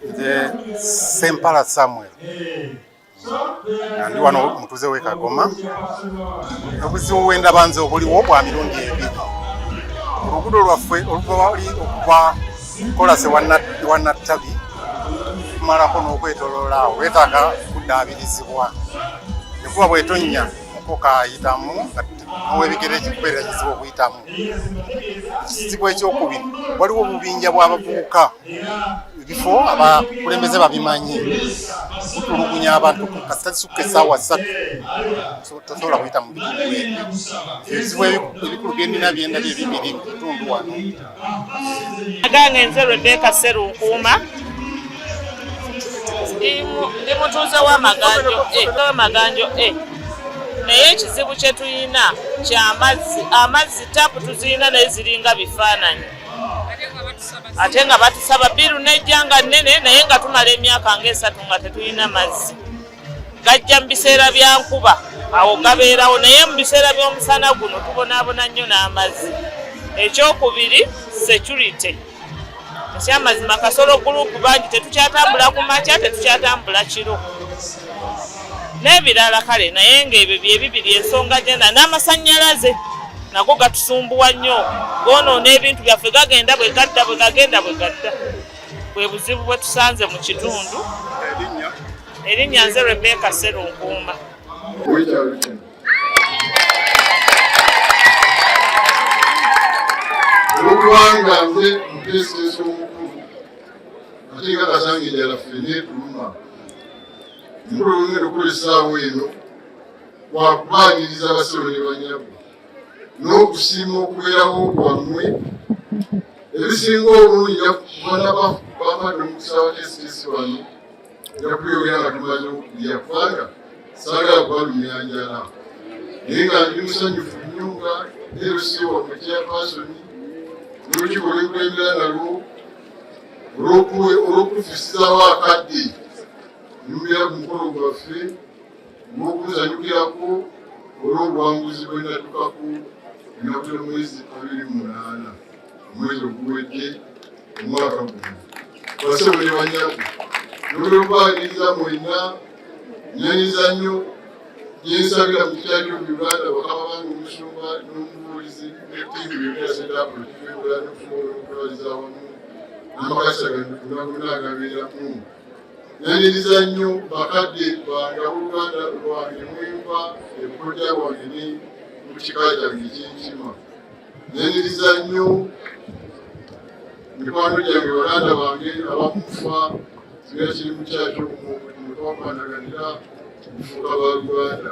nze sempala samuel ndi wano mutuze wekagoma obuzibu bwendaba nze obuliwo bwa mirundi ebiri olugudo lwaffe oluvali okuva kolase wanattabi tumalako n'okwetoloola awo wetaaga kuddaabirizibwa ekuba bwetonnya mukoka ayitamu ow'ebigere ekikubeera kizibu okuyitamu ekizibu ekyokubiri waliwo obubinja bw'abavubuka ebifo abakulembeze babimanyi kutulugunya abantu kasita kisukka esaawa ssatu tosobola kuyita mu bitundu ebyo ebizibu ebikulu byendina byendabye bibiri mu bitundu wano agange nze rebeka serunkuuma ndi mutuuze wamaganjo eh, wamaganjo e eh. naye ekizibu kyetulina kyamazzi amazzi tapu tuzirina naye ziringa bifaananyi ate nga batusaba biru nejja nga nnene naye nga tumala emyaka ngaesatu nga tetulina mazzi gajja mu biseera bya nkuba awo gabeerawo naye mu biseera by'omusana guno tubonaabona nnyo n'amazzi ekyokubiri security ekyamazima kasolo gulupu bangi tetukyatambula ku makya tetukyatambula kiro n'ebirala kale naye ng'ebyo byebibiri ensonga gyena n'amasannyalaze nago gatusumbuwa nnyo goonoona ebintu byaffe gagenda bwe gadda bwe gagenda bwe gadda bwe buzibu bwe tusanze mu kitundu erinnya nze rebeka serunkuuma olwokubanga nze muteesiteesi omukulu ate nga kasange jala ffe netuluma mulungi okukolesaawo eno wakubaaniriza abasolo ne banyabo n'okusiima okubeerawo kwammwe ebisinga obulungi jakukumanaba bamadde omukisa wa sps wano jakubyogera nga tumanyi okuya kubanga saagala kubalumya njala naye nga ndi musanyufu nnyo nga lc wamwe kyapasoni nolukiiko lwekulembera nalwo olwokufisizawo akadde nyumira ku mukolo gwaffe n'okuzanyukirako olw'obuwanguzi bwe natukako enakula mwezi abiri munaana omwezi oguwedde omwaka guno basebo ne banyabo nolwokubaagiriza mwenna nyanyiza nnyo gyensabira mu kitali mu uganda bakaba bange omusumba n'omubuulizi netiimu yonasetabulikiwebula n'okusobola okutwaliza awamu n'amakasa gano gonna agabeeramu Naniriza nnyo bakadde bange ab'oluganda lwange mwenva ebukodya bwange ne mu kika kyange ekyenkima. Naniriza nnyo mikwano gyange baganda bange abamufa singa kiri mu kyakyo mutwakwanaganya kufuuka ba Uganda.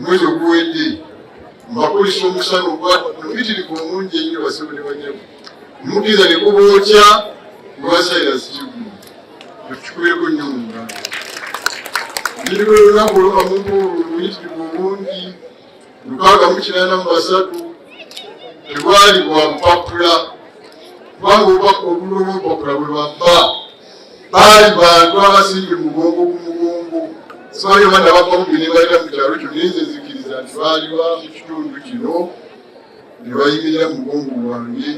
mwezi oguwedde mbakulisa omusana ogwamubitirivu omungi enyo basebo ne banyamu mukiriza ne kubookya lwasayirasi kigumu ekikubireko nnyo mu ngalo ndiri lwe lunaku olukamuntu oluyitirivu obungi lukaaga mu kinaana mu basatu tebwali bwa mpapula kubanga obubaka obululu obupapula bwe bwabba baali bantu abasibye mugongo ku mugongo sibayo bana bakombi nebalira mu kyalo kyo naye nze nzikiriza nti baaliba mu kitundu kino ne bayimirira mu mugongo gwange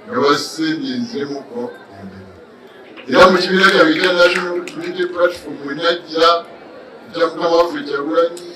nga basembye nzemuko embera era mu kibiina kyange kya national unity platform wenajja ekya mukama waffe kyagulanyi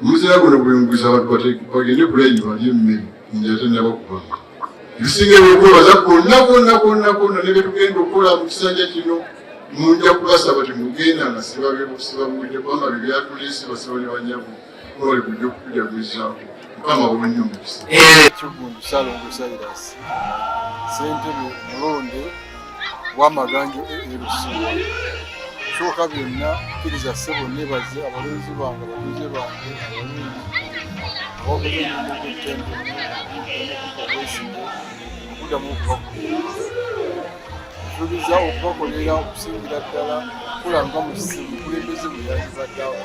omuzira guno gwenguza abantu bagende kulaini balye emmere enjala tennaba kubanga ebisinga ebyokwebaza kwonna kwonna kwonna kwonna ne byetugenda okukola mu kisanja kino munja kubasaba temugenda nga sibabebusibabuwidde kubanga bye byatuleese basaba ne banyabo nga bali kujja okukujagulizaako mukama wonye omukisa ekigundu eh. salongo sairas sentebe mulonde wamaganjo erusi kyoka byonna kiriza sebo nebaze abalonzi bange abalonzi bange abalonzi abakuzemukutembe obwesimbe okudamu okubakolera tubiza okubakolera okusingira ddala kulanga musimu kulembeze bwe yalibaddeawo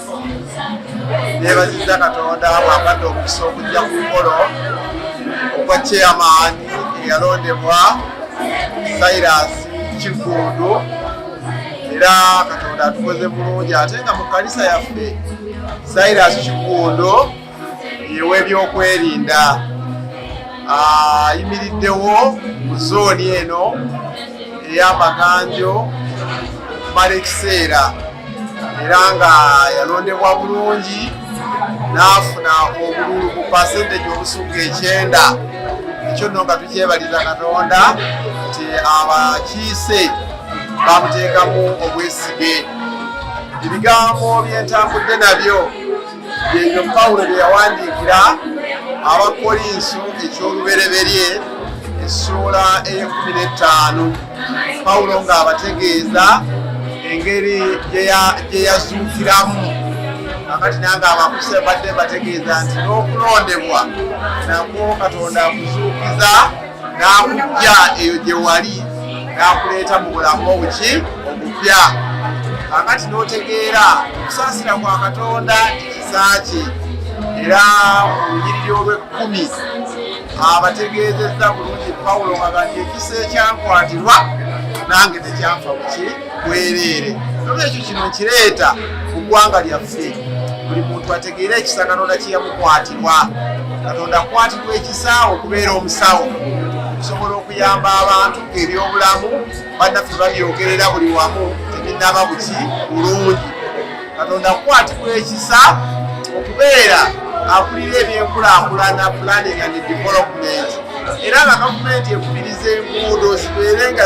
nebaziza katonda bwabadde omukisa okujja ku mukolo ogwa chairman eyalondebwa silas kigundu era katonda atukoze bulungi ate nga mu kanisa yaffe silas kigundu ew'ebyokwerinda ayimiriddewo mu zooni eno ey'amaganjo mala ekiseera era nga yalondebwa bulungi n'afuna obululu ku pasenteji obusuka ekyenda ekyo nno nga tukyebaliza katonda nti abakiise bamuteekamu obwesige ebigambo byentambudde nabyo ebyo pawulo bye yawandiikira abakolinso eky'olubereberye essuula ey'ekkumi n'ettaano pawulo ng'abategeeza engeri gye yazuukiramu akati nange abakuse mbadde mbategeeza nti n'okulondebwa nakwo katonda akuzuukiza n'akujja eyo gye wali n'akuleeta mu bulamu obuki obupya kakati n'otegeera okusaasira kwa katonda ekisa kye era mu lunyiriri olw'ekkumi abategeezezza bulungi pawulo nga gati ekisa ekyakwatirwa nange tekyanfa buki bwereere nolwekyo kino nkireeta ku ggwanga lyaffe buli muntu ategeere ekisa katonda kyeyamukwatirwa katonda akwatirwa ekisa okubeera omusawo okusobola okuyamba abantu ebyobulamu bannaffe babyogerera buli wamu tebinaba buki bulungi katonda akwatirwa ekisa okubeera akulira ebyenkulakulana planning and development era nga gavumenti ekubiriza enguudo zibeere nga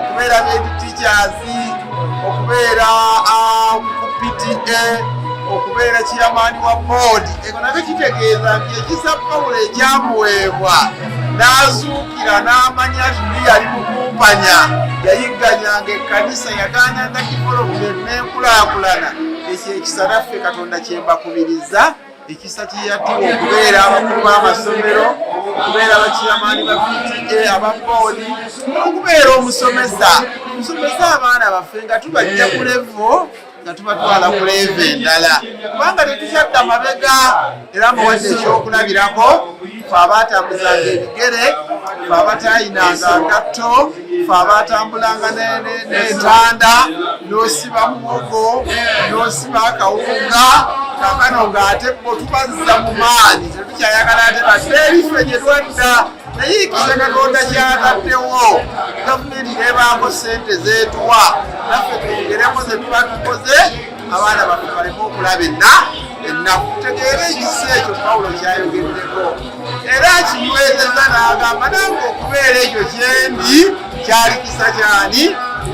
okubeera nedi teachers okubeera um, ku pta okubeera kiyamaani wa boodi eko nabyo kitegeeza nti ekisa pawulo ekyamuweebwa n'azuukira n'amanya nti ndi yali mukumpanya yayigganyanga ekkanisa yagaananga kifolo ku byennenkulakulana ekyo ekisa naffe katonda kyembakubiriza ekisa kiyatiwa okubeera abakulu b'amasomero okubeera bakiyamaani ba pta aba boodi okubeera omusomesa nsomesa abaana baffe nga tubajja ku levo nga tubatwala ku levo endala kubanga tetukyadda mabega era muwadde ekyokulabirako fe abaatambuzanga ebigere fe abataayinanga ngatto fe abaatambulanga n'entanda n'osiba muwogo n'osiba akawunga kakano ng'ate bo tubazza mu maanyi tetukyayagala ate bateerife gye twadda naye ekisa katonda kyataddewo gavumenti nebaako sente zeetuwa naffe twongereko zetuba tukoze abaana baffe baleme okulaba enna ennaku tegeera ekisa ekyo pawulo kyayogeddeko era kinywezeza n'agamba nange okubeera ekyo kyendi kyali kisa kyani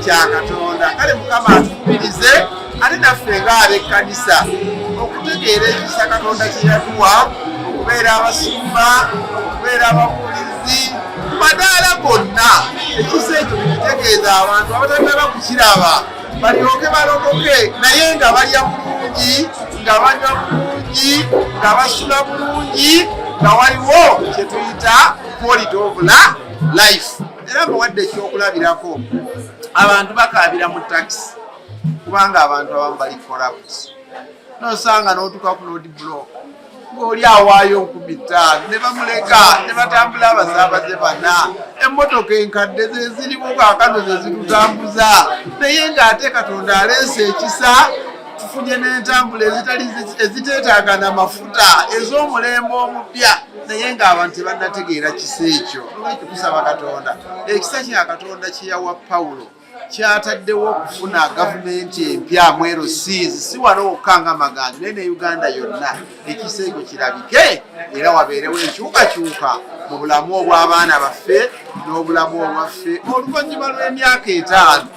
kya katonda kale mukama atukubirize ate naffe ng'abekkanisa okutegeera ekisa katonda kye yatuwa okubeera abasumba okubeera ababuulizi ku madaala gonna ekisa ekyo kitegeeza abantu abatanaba kukiraba balyoke balokoke naye nga balya bulungi nga banywa bulungi nga basula bulungi nga waliwo kyetuyita quality of life era mbawadde ekyokulabirako abantu bakaabira mu takisi kubanga abantu abamu bali corrupt nosanga notuka ku lodi block ng'oli awaayo nkumi ttaano ne bamuleka ne batambula abasaabaze bana emmotoka enkadde ze zirimu kaakano ze zitutambuza naye ng'ate katonda aleese ekisa tufunye n'entambula ezitali eziteetaaga na mafuta ez'omulembe omupya naye ng'abantu tebannategeera kisa ekyo olwekyo tusaba katonda ekisa kya katonda kye yawa pawulo kyataddewo okufuna gavumenti empya mwero siis si wano wokka nga maganzi naye ne uganda yonna ekiseego kirabike era wabeerewo enkyukakyuka mu bulamu obw'abaana baffe n'obulamu obwaffe oluvannyuma lw'emyaka etaano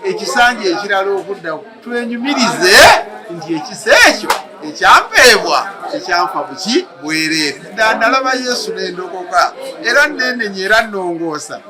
ekisanja ekirala okudda twenyumirize nti ekisa ekyo ekyampeebwa ekyanfa buki bwereere nandalaba yesu nendokoka era nenenya era nongoosa